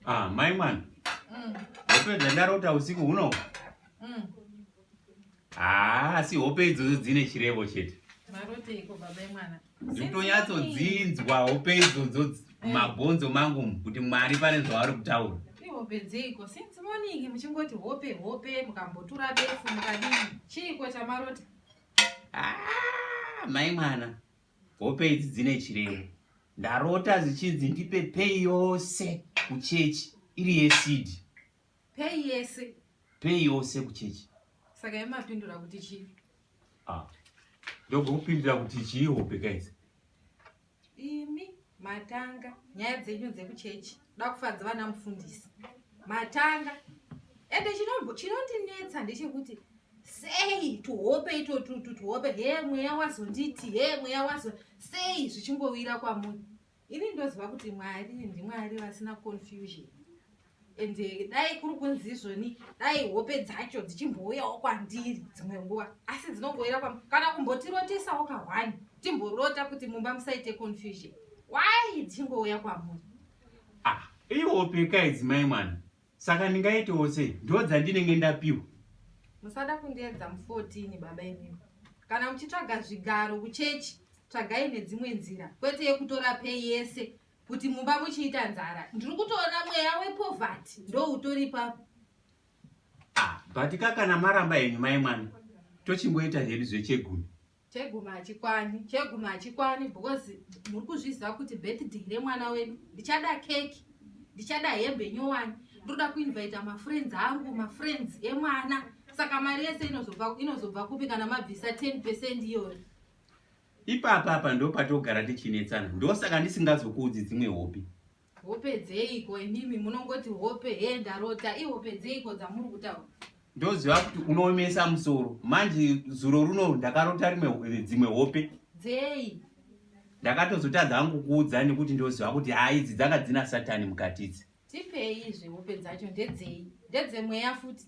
Ah, mai mwana. Mm. Hope dzandarota usiku huno. Mm. Ah, si hope idzodzo dzine chirevo chete. Marote iko baba mwana. Nditonyatso dzinzwa hope idzodzo eh. mabhonzo mangu kuti Mwari pane zvavari kutaura. Ihope dziko since morning muchingoti hope hope mukambotura befu mukadini. Chiiko chamarota? Ah, mai mwana. Hope idzi dzine chirevo. Ndarota zvichinzi ndipe pay yose kuchechi iri yesidi. Pay yese. Pay yose kuchechi. Saka yemapindura kuti chii? Ah. Ndokupindura kuti chii hope guys? Imi matanga nyaya dzenyu dzekuchechi. Dakufadza vana mufundisi matanga ende chinondinetsa ndechekuti sei tuhope itotutu tuhope he mweya wazonditi he mweya wazo sei zvichingowira kwamunhu ini ndoziva kuti mwari ndimwari vasina confusion ende eh, dai kuri kunzi izvoni dai hope dzacho dzichimbouyawo kwandiri dzimwe nguva asi dzinongoira kwa kana kumbotirotesawo kahwani timborota kuti mumba musaite confusion Why dzingouya kwamuri? Ah, ihope ka idzi mai mwana. Saka ndingaitewo sei? Ndo dzandinenge ndapiwa. Musada kundiedza mu 14 baba imimi. Kana muchitsvaga zvigaro kuchechi, tsvagai nedzimwe nzira kwete yekutora pay yese kuti mumba muchiita nzara. Ndiri kutoona mweya we poverty ndo utori papo. Ah, but ka kana maramba henyu mai mwana. Tochimboita hedu zvechegumi. Chegumi hachikwani, chegumi hachikwani because muri kuzviziva kuti birthday remwana wedu ndichada keki, ndichada hembe nyowani, ndoda kuinvita mafriends angu, mafriends emwana. Saka mari yese inozobva inozobva kupi kana mabvisa 10 percent iyoyo? Ipapa apa ndopatogara tichinetsana, ndosaka ndisingazokuudzi dzimwe hope. Hope dzeiko imimi munongoti hope he ndarota ihope dzeiko dzamuri kutaura? Ndoziva kuti unoomesa musoro manje zuro runo ndakarota rimwe dzimwe hope. Dzei? Ndakatozotadza hangu kuudza nekuti ndoziva kuti haa idzi dzanga dzina satani mukati idzi. Tipei izvi hope dzacho ndedzei? Ndedzemweya futi?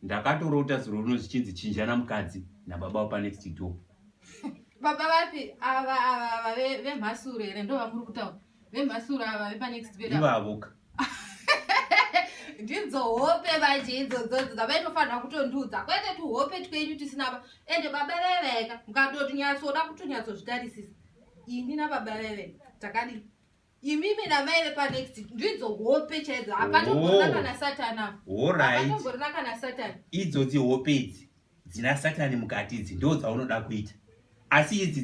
Ndakatorota zuro rino zvichinzi chinjana mukadzi nababa wepa next door. Baba vapi ava ava ava ve- vemhasuro here ndo vamuri kutaura vemhasuro ava vepa next bed ava. Ivavoka. ndidzo hope manje idzodzodzo dzavaitofanira kutondiudza kwete tuhope twenyu tisina ba ende baba veveka mukatoti nyatsoda kutonyatsozvitarisisa ini nababa veveka takadii imimi namai vepanext ndidzo hope chaidzo hapatomborina oh. kana satani apoatomborina kana satani idzodzi hope idzi dzina satani mukati idzi ndo dzaunoda kuita asi idzi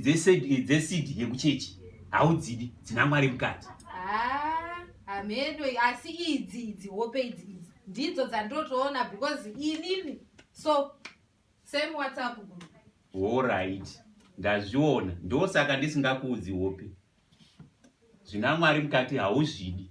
dzesidi yekuchechi haudzidi dzina mwari mukati ah, hameno asi idzi idzi hope idzi ndidzo dzandotoona because inini so Same WhatsApp group. All right. Ndazviona. Ndosaka ndisingakuudzi hope. Zvina Mwari mukati hauzvidi.